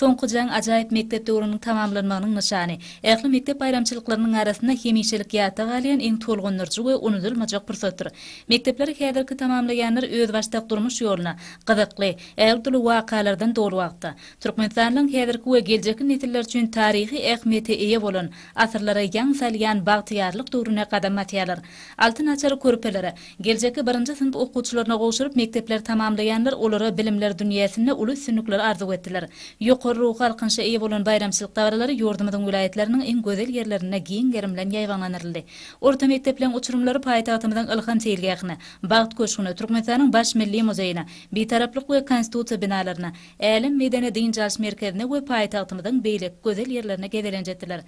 Soňky jaň ajaýyp mekdep döwrüniň tamamlanmagynyň nyşany. Ähli mekdep baýramçylyklarynyň arasynda hemişelik ýatda galýan iň tolgundyryjy we unudylmajak pursatdyr. Mekdepleri häzirki tamamlaýanlar özbaşdak durmuş ýoluna, gyzykly, ägirt-uly wakalardan doly wagtda, Türkmenistanyň häzirki we geljekki nesiller üçin taryhy ähmiýete eýe bolan, asyrlara ýaň salýan bagtyýarlyk döwrüne gadam basýarlar. Altyn açar körpelere, geljekki birinji synp okuwçylaryna gowşuryp, mekdepleri tamamlaýanlar olara bilimler dünýäsinde uly üstünlikleri arzuw etdiler. Ýokary ruhy alkynşa eýe bolan baýramçylyk dabaralary ýurdumyzyň welaýatlarynyň iň gözel ýerlerinde giň gerim bilen ýaýbaňlandyryldy. Orta mekdepleriň uçurymlary paýtagtymyzyň Ylham seýilgähine, Bagt köşgüne, Türkmenistanyň Baş milli muzeýine, Bitaraplyk we Konstitusiýa binalaryna, Älem medeni-dynç alyş merkezine we paýtagtymyzyň beýleki gözel ýerlerine gezelenç etdiler.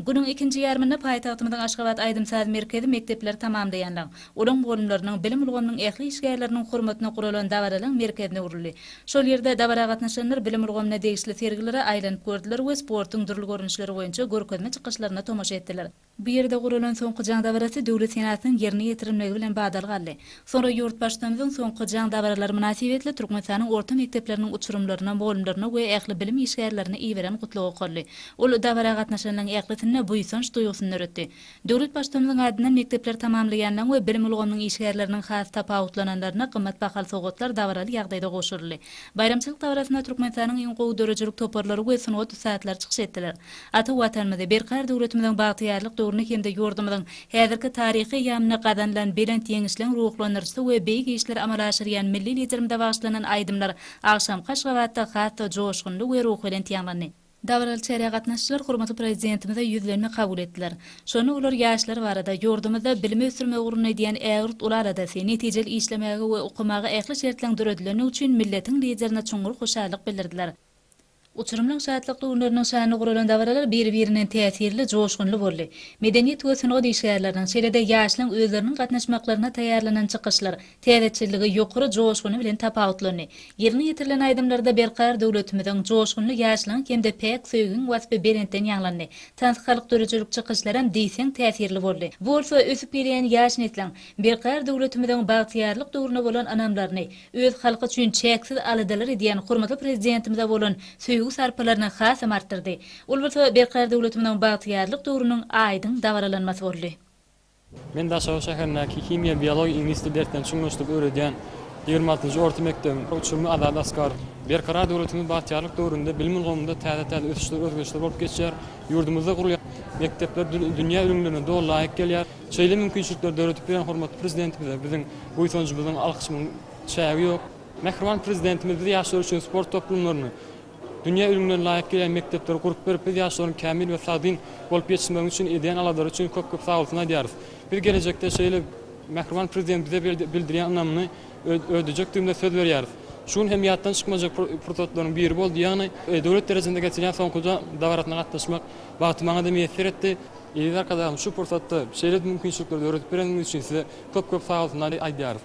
Günüň ikinji ýarymynda paýtagtymyzyň Aşgabat aýdym-saz merkezi mekdepleri tamamlaýanlaryň, olaň mugallymlarynyň, bilim ulgamynyň ähli işgärleriniň hormatyna guralan dabaralaryň merkezine öwrüldi. Şol ýerde dabara gatnaşanlar bilim ulgamyna degişli sergilere aýlanyp gördüler we sportuň dürli görnüşleri boýunça görkezme çykyşlaryna tomaşa etdiler. Bu ýerde guralan soňky jaň dabarasy döwlet senasynyň ýerine ýetirilmegi bilen badalga aldy. Soňra Ýurtbaştutanyzyň soňky jaň dabaralary mynasybetli Türkmenistanyň orta mekdepleriniň uçurymlaryna, mugallymlaryna we ähli bilim işgärlerine iberen gutlag okaldy. Ol dabara gatnaşanlaryň ählisinde buýsanç duýgusyny döretdi. Döwlet Baştutanymyzyň adyndan mekdepleri tamamlaýanlaryň we bilim ulgamynyň işgärleriniň has tapawutlananlaryna gymmat bahaly sowgatlar dabaraly ýagdaýda gowşuryldy. Baýramçylyk dabarasynda Türkmenistanyň iň gowy döredijilik toparlary we sungat ussatlary çykyş etdiler. Ata Watanymyzy, berkarar döwletimiziň bagtyýarlyk döwrüni hem-de ýurdumyzyň Häzirki taryhy ýamyna gazanylan belent ýeňişleň ruhlandyryjysy we beýik işleri amala aşyrýan milli Liderimize bagyşlanan aýdymlar agşamky Aşgabatda has-da joşgunly we ruhubelent ýaňlandy. Dabaraly çärä gatnaşyjylar hormatly Prezidentimize ýüzlenme kabul etdiler. Şonda olar ýaşlar barada, ýurdumyzda bilimi ösdürmek ugrunda edýän ägirt uly aladasy, netijeli işlemäge we okamaga ähli şertleň döredilendigi üçin milletiň Liderine çuňňur hoşallyk bildirdiler. Uçurymlyň şatlykly günleriniň şanyna guralan dabaralar biri-birinden täsirli, joşgunly boldy. Medeniýet we sungat işgärleriniň, şeýle-de ýaşlaryň özleriniň gatnaşmaklaryna taýýarlanan çykyşlar täzeçilligi, ýokary joşguny bilen tapawutlandy. Ýerine ýetirilen aýdymlarda berkarar döwletimiziň, joşgunly ýaşlygyň hem-de päk söýgiň waspy belentden ýaňlandy. Tans, halk döredijilik çykyşlaram diýseň täsirli boldy. Bu bolsa ösüp gelýän ýaş nesliň, berkarar döwletimiziň bagtyýarlyk döwrüne bolan ynamlaryny, öz halky üçin çäksiz aladalar edýän hormatly Prezidentimize bolan söýgi-sarpalaryny hasam artdyrdy. Ol bolsa berkarar döwletimiziň bagtyýarlyk döwrüniň aýdyň dabaralanmasy boldy. Men Daşoguz şäherindäki himiýa-biologiýa iňlis dili derslerini çuňlaşdyryp öwredýän ýigrimi altynjy orta mekdebiň uçurymy Azat Askarow. Berkarar döwletimiz bagtyýarlyk döwründe bilim ulgamynda täze-täze ösüşler, özgerişler bolup geçýär. Ýurdumyzda gurulýan mekdepler dünýä ülňülerine doly laýyk gelýär. Şeýle mümkinçilikleri döredip bilen hormatly Prezidentimize biziň buýsanjymyzyň, alkyşymyň çägi ýok. Mähriban Prezidentimiz biz ýaşlar üçin sport toplumlaryny, dünýä ülňülerine laýyk gelýän mekdepleri gurup berip, biz ýaşlaryň kämil we sagdyn bolup ýetişmegini üçin edýän aladalary üçin köp-köp sagbolsun aýdýarys. Biz gelejekde şeýle Mähriban Prezident bize bildirýän ynamyny ödejekdigimize söz berýäris. Şu gün hem ýatdan çykmajak pursatlaryň biri boldy, ýagny döwlet derejesinde geçirýän soňky dabarasyna gatnaşmak bagty maňa-da miýesser etdi. Eziz Arkadagym şu pursatda şeýle mümkinçilikleri döredip bereniňiz üçin size köp köp sagalsyny aýdýarys.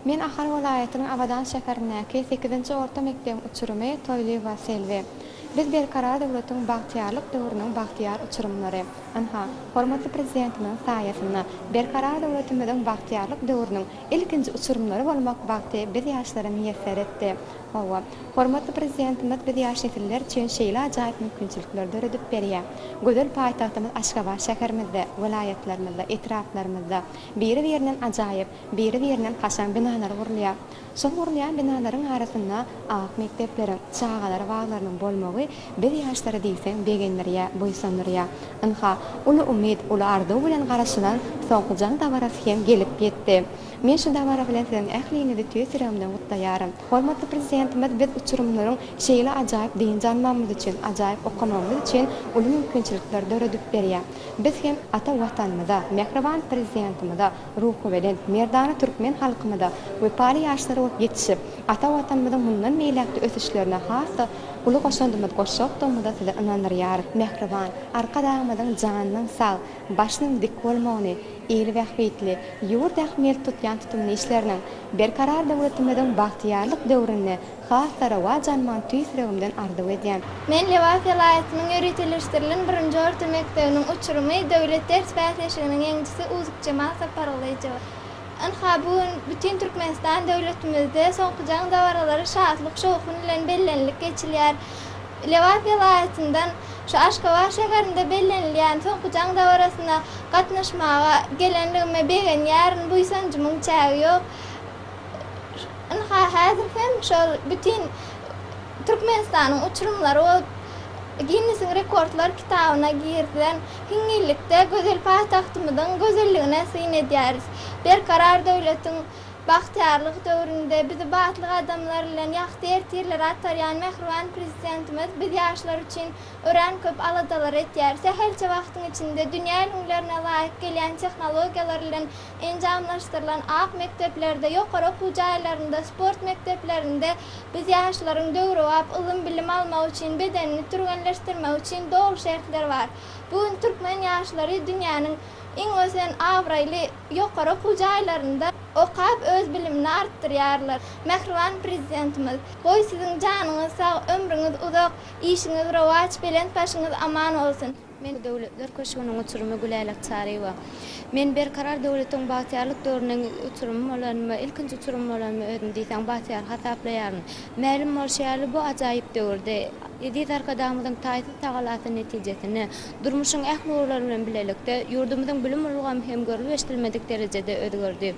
Men Ahal welaýatynyň Abadan şäherindäki sekizinji orta mekdebiň uçurymy Toýlyýewa Selbi. Biz Berkarar döwletiň bagtyýarlyk döwrüniň bagtyýar uçurymlary. Ynha, hormatly Prezidentimiziň saýasynda Berkarar döwletimiziň bagtyýarlyk döwrüniň ilkinji uçurymlary bolmak bagty biz ýaşlara miýesser etdi. Hawa, hormatly Prezidentimiz biz ýaş nesiller üçin şeýle ajaýyp mümkinçilikleri döredip berýär. Gözel paýtagtymyz Aşgabat şäherimizde, welaýatlarymyzda, etraplarymyzda biri-birinden ajaýyp, biri-birinden kaşaň binalar gurulýar. Şol gurulýan binalaryň arasynda ak mekdepleriň, çagalar baglarynyň bolmagy biz ýaşlary diýseň begendirýär, buýsandyrýar. Ynha, uly umyt, uly arzuw bilen garaşylan soňky jaň dabarasy hem gelip ýetdi. Men şu dabara bilen siziň ähliňizi tüýs ýüregimden gutlaýaryn. Hormatly Prezidentimiz biz uçurymlaryň şeýle ajaýyp dynç almagymyz üçin, ajaýyp okamagymyz üçin uly mümkinçilikler döredip berýär. Biz hem ata Watanymyza, mähriban Prezidentimize, ruhubelent, merdana türkmen halkymyza wepaly ýaşlar bolup ýetişip, ata Watanymyzyň mundan beýläk-de ösüşlerine has-da uly goşandymyzy goşjakdygymyza sizi ynandyrýarys. Mähriban Arkadagymyzyň janynyň sag, başynyň dik bolmagyny, Ýyly bähbitli, ýurt ähmiýet tutýan tutumly işleriniň, Berkarar döwletimiziň bagtyýarlyk döwründe has-da rowaç almagyny tüýs ýüregimden arzuw edýän. Men Lebap welaýatynyň ýöriteleşdirilen birinji orta mekdebiniň uçurymy, döwlet ders bäsleşiginiň ýeňijisi Uzukjemal Sapargylyjowa. Ynha, bu gün bütin Türkmenistan döwletimizde soňky jaň dabaralary şatlyk-şowhun bilen bellenilip geçilýär. Lebap welaýatyndan şu Aşgabat şäherinde bellenilýän soňky jaň dabarasyna gatnaşmaga gelenligime begenýärin, buýsanjymyň çägi ýok. Ynha, häzir hem şol bütin Türkmenistanyň uçurymlary bolup, Ginnesiň rekordlar kitabyna girizen hiňňillikde gözel paýtagtymyzyň gözelligine syn edýäris. Berkarar döwletiň. Bagtyýarlyk döwründe bizi batly gadamlar bilen ýagty ertirlere atarýan mähriban Prezidentimiz biz ýaşlar üçin örän köp aladalar etýär. Sähelçe wagtyň içinde dünýä ülňülerine laýyk gelýän tehnologiýalar bilen enjamlaşdyrylan ak mekdeplerde, ýokary okuw jaýlarynda, sport mekdeplerinde biz ýaşlaryň döwrebap ylym-bilim almagy üçin, bedenini türgenleşdirmegi üçin doly şertler bar. Bu gün türkmen ýaşlary dünýäniň iň ösen, abraýly. ýokary okuw jaýlarynda okap öz bilimini artdyrýarlar. Mähriban Prezidentimiz, Goý siziň janyňyz sag, ömrüňiz uzak, işiňiz rowaç, belent başyňyz aman bolsun! Men Döwletler köşgüniň uçurymy Güläl Atçaryýewa. Men Berkarar döwletiň bagtyýarlyk döwrüniň uçurymy bolan we ilkinji uçurymy bolan özümi diýseň bagtyýar hasaplaýaryn. Mälim bolşy ýaly, bu ajaýyp döwürde Eziz Arkadagymyzyň taýsyz tagalasy netijesinde, Durmuşyň ähli ugurlary bilen bilelikde, ýurdumyzyň bilim ulgamy hem görlüp-eşidilmedik derejede özgerdi.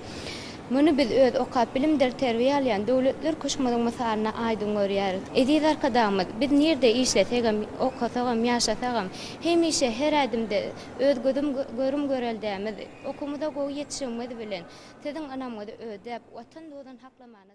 Muny biz öz okap, bilimdir terbiýe alýan Döwletler köşgümiziň mysalynda aýdyň görýäris. Eziz Arkadagymyz, Biz nirede işlesegem, okasagam, ýaşasagam, hemişe, her ädimde öz gözüm görüm göreldämiz, okumyza gowy ýetişigimiz bilen Siziň ynamyňyzy ödäp, Watan duzuny saklamana